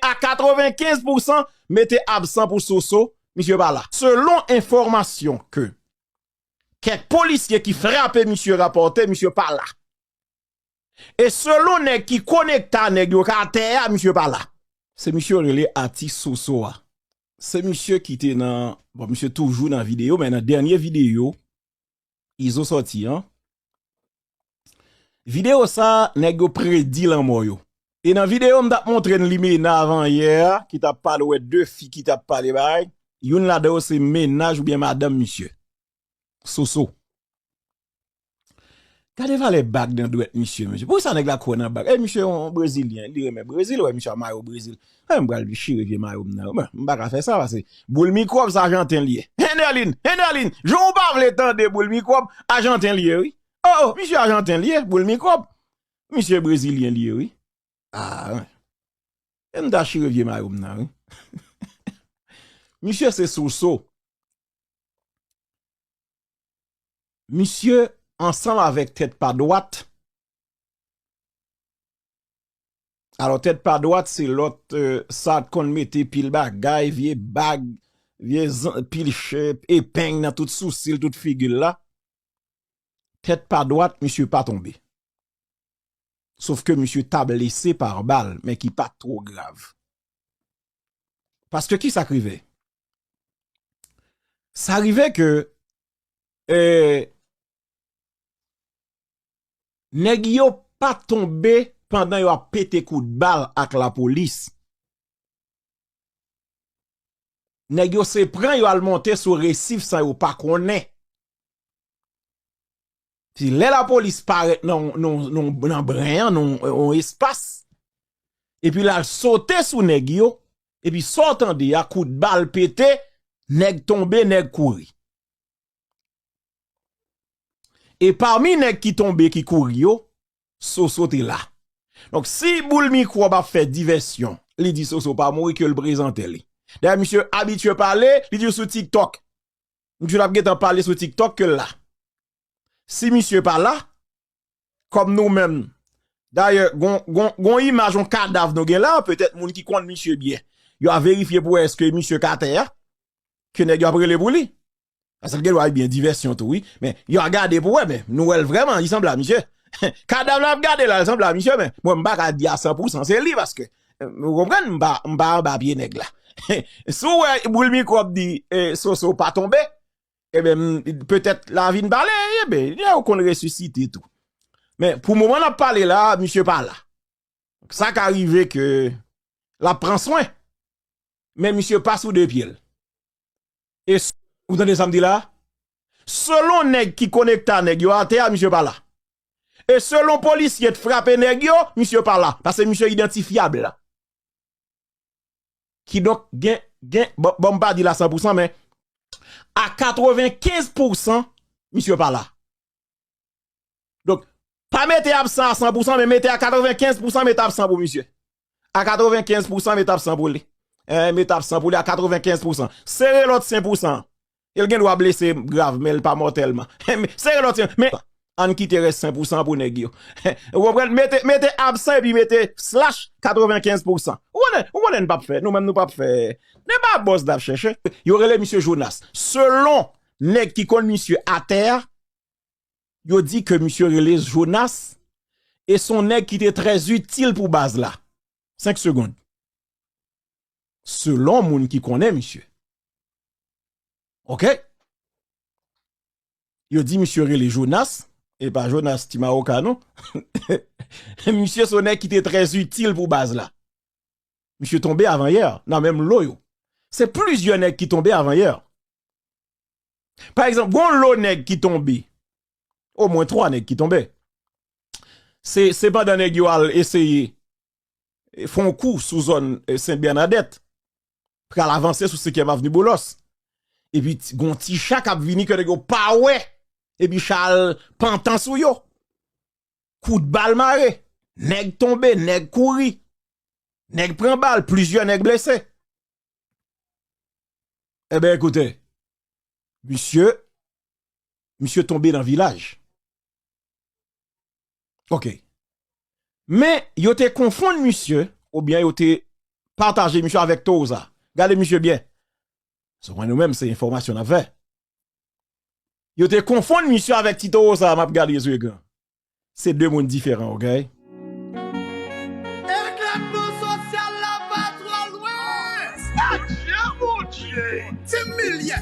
A 95 pou san mete absan pou Soso, misye pa la. Selon enfòmasyon ke kèk polisye ki frape misye rapòte, misye pa la. E selon nèg ki konekta nèg yo ka atè a, misye pa la. Se misye yo rele atis Soso a. Se misye ki te nan, bon misye toujou nan videyo men nan dènye videyo Izo soti an Video sa nèg yo predi lanmò yo E nan video m tap montre n li Mena avan yè a ki tap pale wè de fi ki tap pale bagay Youn ladan yo se mennaj oubyen madanm misye Soso Gade valè bag nan dwèt misye mesye Poukisa nèg la kwè nan bag Misye yon brezilyen li renmen brezil wè misye a mayo brezil Eeh m pral dechire vye mayo m nan wi. M pa ka fè sa pase boul mikwòb sa ajanten li ye. Hennerline! Hennerline! Jan w pa vle tande boul mikwòb, ajanten li ye wi. Oh oh misye ajanten li ye, boul mikwòb. Misye brezilyen li ye wi. Aah wen. E m ta chire vye mayo m nan wi. Misye se soso. Misye ansanm avèk tèt pa dwat. Alò tèt pa dwat se lòt sa t konn mete pil bagay vye bag vye pil chè epeng nan tout sousil tout figil la tèt pa dwat misye pa tonbe sof ke misye ta blese par bal men ki pat twò grav paske kisa k rive sa rive ke eee. nèg yo pa tonbe pandan yo ap pete kout bal ak lapolis. Nèg yo se pran yo al monte sou resif san yo pa konnen. Se lè lapolis parèt nan bren an, nan yon espas, epi l al sote sou nèg yo, epi sa w tande a, kout bal pete, nèg tonbe, nèg kouri. E pami nèg ki tonbe ki kouri yo, Soso te la. Donk si boul mikwòb ap fè divèsyon, li di Soso pa mouri ke l prezante li. Dayè misye abitye pale, li di w sou TikTok. Misye t ap gentan pale sou TikTok ke l la. Si misye pa la, kòm nou menm, dayè gon imaj yon kadav nou gen la, petèt moun ki konn misye byen, yo a verifye pou wè eske misye ka atè a, ke nèg yo ap rele pou li, paske l gen dwa gen divèsyon tou wi, men yo a gade pou wè, men nou wè l vrèman, li sanble a misye, kadav la ap gade la, li sanble a misye, men mwen m pa ka di a san pou san se li, paske, ou konprann, m pa anba pye nèg la, si w wè boul mikwòb di, soso pa tonbe, Eben, eh petèt la vin pale, eben, eh yo konn resusite tou. Men, pou mouman la pale la, misye pa la. Sa ka rive ke la pran swen, men misye pa sou de pye l. E, ou tande sa m di la? Selon nèg ki konekta nèg yo atè a, misye pa la. E selon polisye t frape nèg yo, misye pa la. Pase misye identifyab la. Kidonk gen, gen, bon, bon m pa di la san pou san men a 95 pou san misye pa la. Donk, pa mete absan a san pou san men mete a 95 pou san mete absan pou misye. A 95 pou san mete absan pou li. Mete absan pou li a 95 pou san. Sere lòt sen pou san. El gen dwa blese grav men el pa mòtèlman. Sere lòt yon, men ann kite rès 5 pou 100 pou nèg yo. Ou konprann? Mete, mete absan epi mete slash 95 pou 100. Ou konnen, ou konnen n pap fè, nou menm nou pap fè. Nè pa bòz nap chèche. Yo rele misye Jonas. Selon nèg ki konn misye atè a, yo di ke misye rele Jonas e son nèg ki te trè zitil pou baz la. 5 segond. selon moun ki konnen misye. Ok. Yo di misye rele Jonas, e pa Jonas ti maroka non. Misye son nèg ki te trè itil pou baz la. Misye tonbe avan yè nan menm lo yo. Se plizyè nèg ki tonbe avan yè. Pa egzanp, gon lo nèg ki tonbe. O mwen 3 nèg ki tonbe. Se pandan nèg yo al eseye fè yon kou sou zòn Sen Bènadèt, pral avanse sou Senkyèm Avni Boulos, epi gon ti cha kap vini ke nèg yo pa wè, epi cha al pantan sou yo, kout bal mare, nèg tonbe, nèg kouri, nèg pran bal, plizyè nèg blese. Eben ekoute, misye, misye tonbe nan vilaj. Ok. Men, yo te konfonn misye, oubyen yo te pataje misye avèk Tohoza. Gade misye byen. Sou mwen nou menm se enfòmasyon nan vè. Yo te konfonn misye avèk ti Tohoza, map gade zye gran. Se de moun diferan, okay? Eklètman sosyal la pa twò lwen! Adye Bondye! Ti milyè!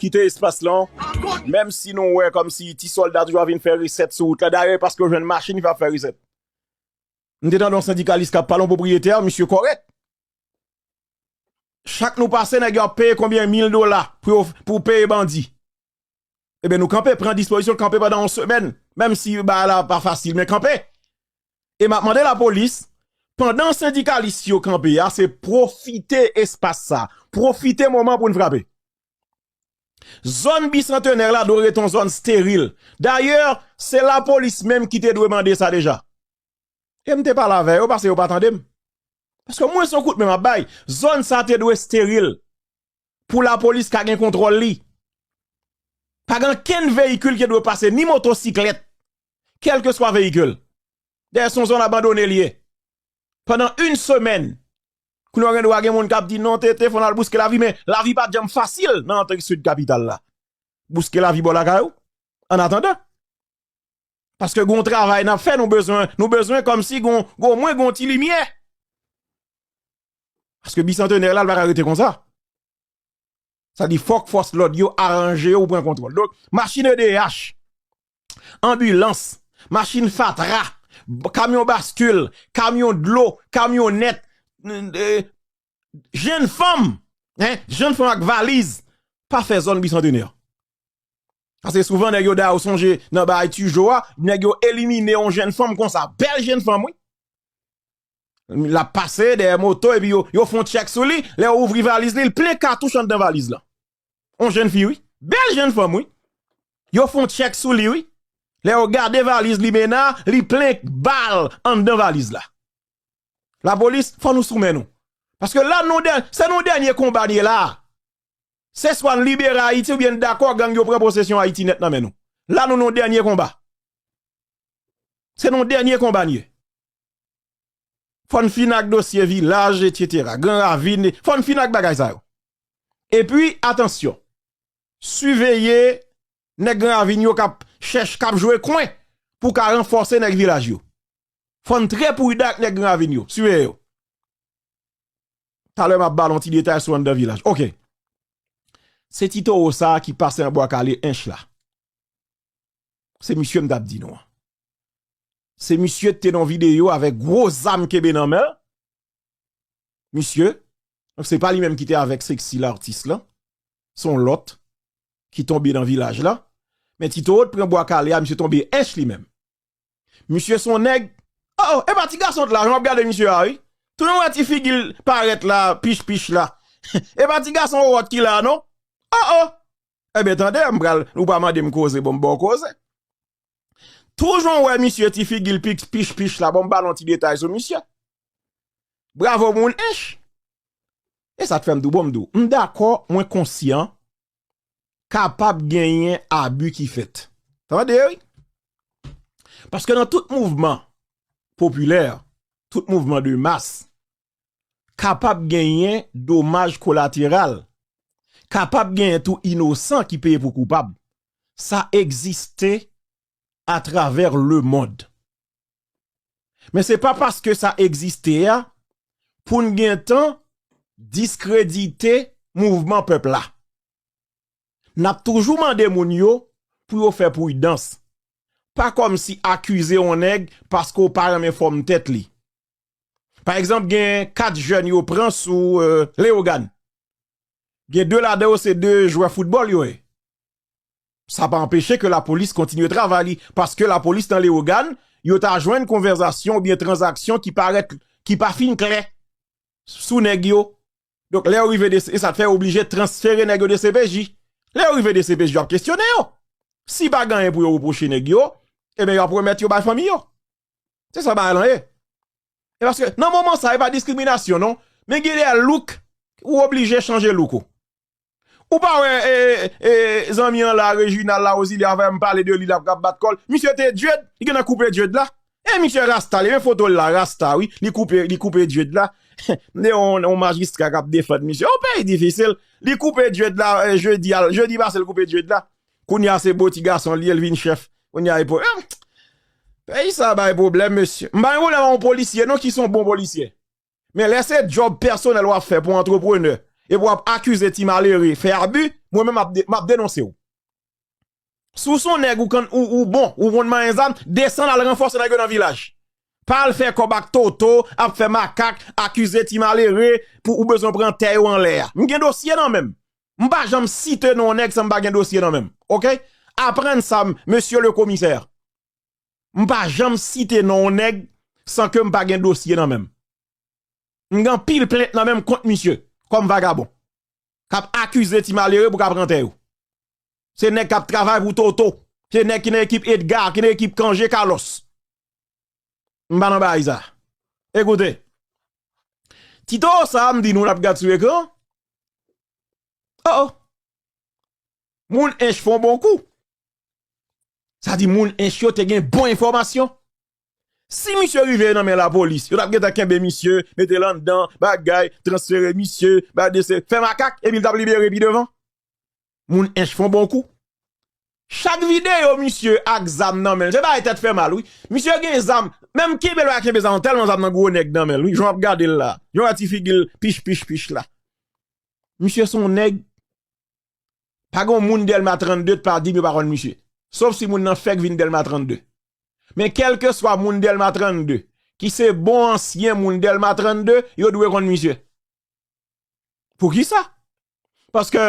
Kite espas lan, menm si nou wè kòm si ti sòlda toujou ap vin fè resèt sou wout la, dayè e paske yo jwenn machin ki fè yo ap fè resèt. M te tande yon sendikalis k ap pale, yon pwopriyetè, misye kòrèk. Chak nou pase nèg yo ap peye konbyen mil dola pou peye bandi. E ben nou kanpe, pran dispozisyon kanpe badan yon semen, menm si yon ba la pa fasil men kanpe. E map mande la polis, pandan sendikalis yo kanpe ya, se profite espas sa, profite moman pou nou frape. Zon bicentenaire la do reton zon steril. D'ailleurs, se la polis menm ki te dwe mande sa deja. E mte pale avè yo, pase yo pa tande m. Paske mwen son kout men map bay, zon sa te dwe steril. pou lapolis ka gen kontwòl li. Pa gen ankenn veyikil ki dwe pase ni motosiklèt, kèlkeswa veyikil. Dayè se yon zòn abandone li ye. Pandan yn semèn, kounye a gen dwa gen moun k ap di non TT fò n al bouske lavi men lavi pa t janm fasil nan antre sid kapital la. Bouske lavi bò lakay ou annatandan. Paske gen yon travay n ap fè nou bezwen, nou bezwen kòmsi gen yon omwen gen yon ti limyè. Paske bisantenè la l paka rete konsa. Sa di fòk fòs lòd yo aranje yo pou pran kontwòl. Donk, machin edeyach, anbilans, machin fatra, kamyon baskil, kamyon dlo, kamyonèt, jenn fanm, jenn fanm ak valiz, pa fè zòn bisantenè. Ase souvan nèg yo da ou sonje nan bay tujo a, nèg yo elimine yon jenn fanm konsa, bèl jenn fanm wi. L ap pase dèyè moto epi yo fon tchèk sou li, lè yo ouvri valiz li, l plen katouch anndan valiz lan. On jenn fi wi, bèl jenn fanm wi. Yo fon tchèk sou li wi, lè yo gade valiz limena, li plen bal anndan valiz la. Lapolis, fò nou sou men nou. Paske la nou dè, se nou dènye konba n ye la a. Se swa n libere Ayiti oubyen n dakò gang yo pran posesyon Ayiti nèt nan men nou. La nou nan dènye konba. Se nan dènye konba n ye. Fòn fin ak dosye vilaj etc. Gran ravin, fòn fin ak bagay sa yo. E pi atansyon, siveye nèg gran ravin yo kap chèch kap jwe kwen pou ka ranfòse nèg vilaj yo. Fòn trè prudan ak nèg gran ravin yo, siveye yo. Talè map ba nou ti detay sou anndan vilaj. Ok. Se ti towo sa ki pase an bwa kale ench la. Se misye m tap di nou an. Se misye ki te nan video avèk gwo zam kenbe nan men l. Misye, se pa li menm ki te avèk Sexy l'artiste lan, se yon lòt ki tonbe nan vilaj la. Men ti towo t pran bwa kale a, misye tonbe ench li menm. Misye se yon nèg, o o, epa ti gason t la jan map gade misye a wi. Tounen w wè ti figi l parèt la, pich pich la. Epa ti gason wowòt ki la non. O o! Enben tande, m pral, ou pa mande m koze, bon m ba w koze. Tou jan w wè misye ti figi l pi pich pich la, bon m ba l yon ti detay sou misye. Bravo pou l ench! E sa k fè m di w, bon m di w, m dakò, mwen konsyan, kapab genyen abi ki fèt. Tande wi! Paske nan tout mouvman popilè, tout mouvman de mas, kapab genyen domaj kolateral, kapab genyen tou inosan ki peye pou koupab. Sa egziste atravè lemond. Men se pa paske sa egziste a pou n gen tan diskredite mouvman pèp la. N ap toujou mande moun yo pou yo fè pridans. Pa kòmsi akize yon nèg paske w pa renmen fòm tèt li. Pa egzanp gen 4 jèn yo pran sou Leyogan. Gen 2 ladan yo se 2 jwè foutbòl yo ye. Sa pa anpeche ke la polis kontinye travay li. Paske la polis nan Leyogan, yo ta jwenn konvèzasyon ou byen tranzaksyon ki parèt, ki pa fin klè sou nèg yo. Donk lè yo rive de, e sa te fè yo oblije transfere nèg yo DCPJ. Lè yo rive DCPJ yo ap kesyone yo. Si pa gen anyen pou yo repwoche nèg yo, e ben yo ap remèt yo bay fanmi yo. Se sa bagay lan ye. E paske nan moman sa e pa diskriminasyon non. Men gen de look ou oblije chanje look ou. Ou pa wè zanmi an la Reginald la Ozilya avè m pale de li la ap bat kòl. Misye te djed, li gentan koupe djed la. E misye rasta li, men foto l la rasta wi. Li koupe, li koupe djed la. Mde yon majistra kap defan misye. Yon peyi difisil. Li koupe djed la jeudi a, jeudi pase l koupe djed la. Kounya se bo ti gason li ye li vin chèf kounya e po eeh peyi sa bay pwoblèm mesye m pa gen pwoblèm a yon polisye non ki son bon polisye men lè se djòb pèsonèl wap fè pou antreprenè epi wap akize ti malere fè abi mwen menm map denonse w si w son nèg ou kan ou bon ou konn manyen zam desann al ranfòse nèg yo nan vilaj pa al fè kòb ak toto ap fè makak akize ti malere pou ou bezwen pran tè yo anlè a m gen dosye nan menm m pa janm site non nèg san m pa gen dosye nan menm ok aprann sa mesye le komisè m pa janm site non nèg san ke m pa gen dosye nan menm m gen anpil plent nan menm kont misye kòm vagabon k ap akize ti malere pou k ap pran tè yo se nèg k ap travay pou toto se nèg ki nan ekip Edgar ki nan ekip Cangé Carlos. M pa nan baay sa. Ekoute, Tito sa m di nou n ap gad sou ekran, o o, moun Ench fè yon bon kou. Sa di moun Ench yo te gen bon enfòmasyon. Si misye rive nan men lapolis, yo t ap gentan kenbe misye, mete l anndan, bagay, transfere misye, bay dese, fè makak, epi l t ap libere pi devan. Moun ench fon bon kou. Chak video misye ak zam nan menl se bagay tèt fè mal wi. Misye gen zam menm kenbe lwa kenbe zam tèlman zam nan gwo nèg nan menl wi jan wap gadel la. Jan wè ti figil pich pich pich la. Misye son nèg pa gon moun delma 32 t pa dim yo pa konn misye. Sof si moun nan fèk vin delma 32. Men kelke swa moun delma 32 ki se bon ansyen moun delma 32 yo dwe konn misye. Poukisa? Paske,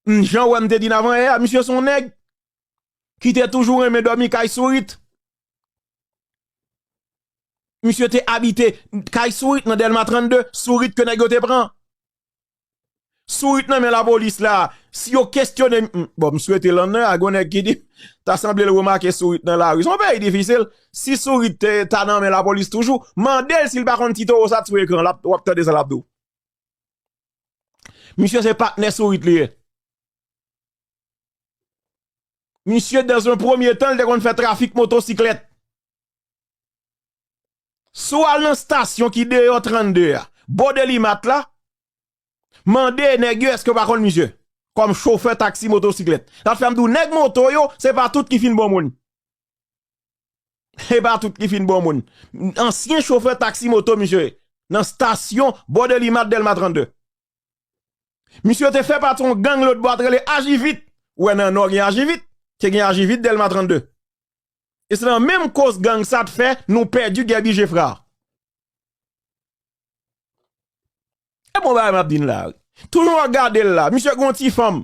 m jan wè m te di n avan yè a, misye son nèg ki te toujou renmen dòmi kay sourit. Misye te abite kay sourit nan Dèlma 32, sourit ke nèg yo te pran. Sourit nan men lapolis la, si yo kestyone, bon m swete lan nan, a gwen nèg ki di, ta sanble l remake sourit nan lari. Son peyi difisil, si sourit te ta nan men lapolis toujou, mande l si l pa konn ti towo sa t sou ekran, wap tande sa lap di w. Misye se patnè sourit li ye. Misye dans un premye tan li te konn fè trafik motosiklèt. Si w al nan stasyon ki deyò 32 a, bò delimat la, mande nèg yo èske yo pa konn misye kòm chofè taksi motosiklèt. Sa fè m di w nèg moto yo se pa tout ki fin bon moun. Se pa tout ki fin bon moun. Ansyen chofè taksi moto misye ye. Nan stasyon bò Delimat Dèlma 32. Misye te fè pati yon gang lotbò a te rele Ajivit. Ou wè nan Nò gen Ajivit, te gen Ajivit Dèlma 32. E se nan menm koz gang sa te fè nou pèdi Gèbi Jefra. Se bon bagay m ap di n la wi. Toujou w ap gade l la. Misye gen yon ti fanm.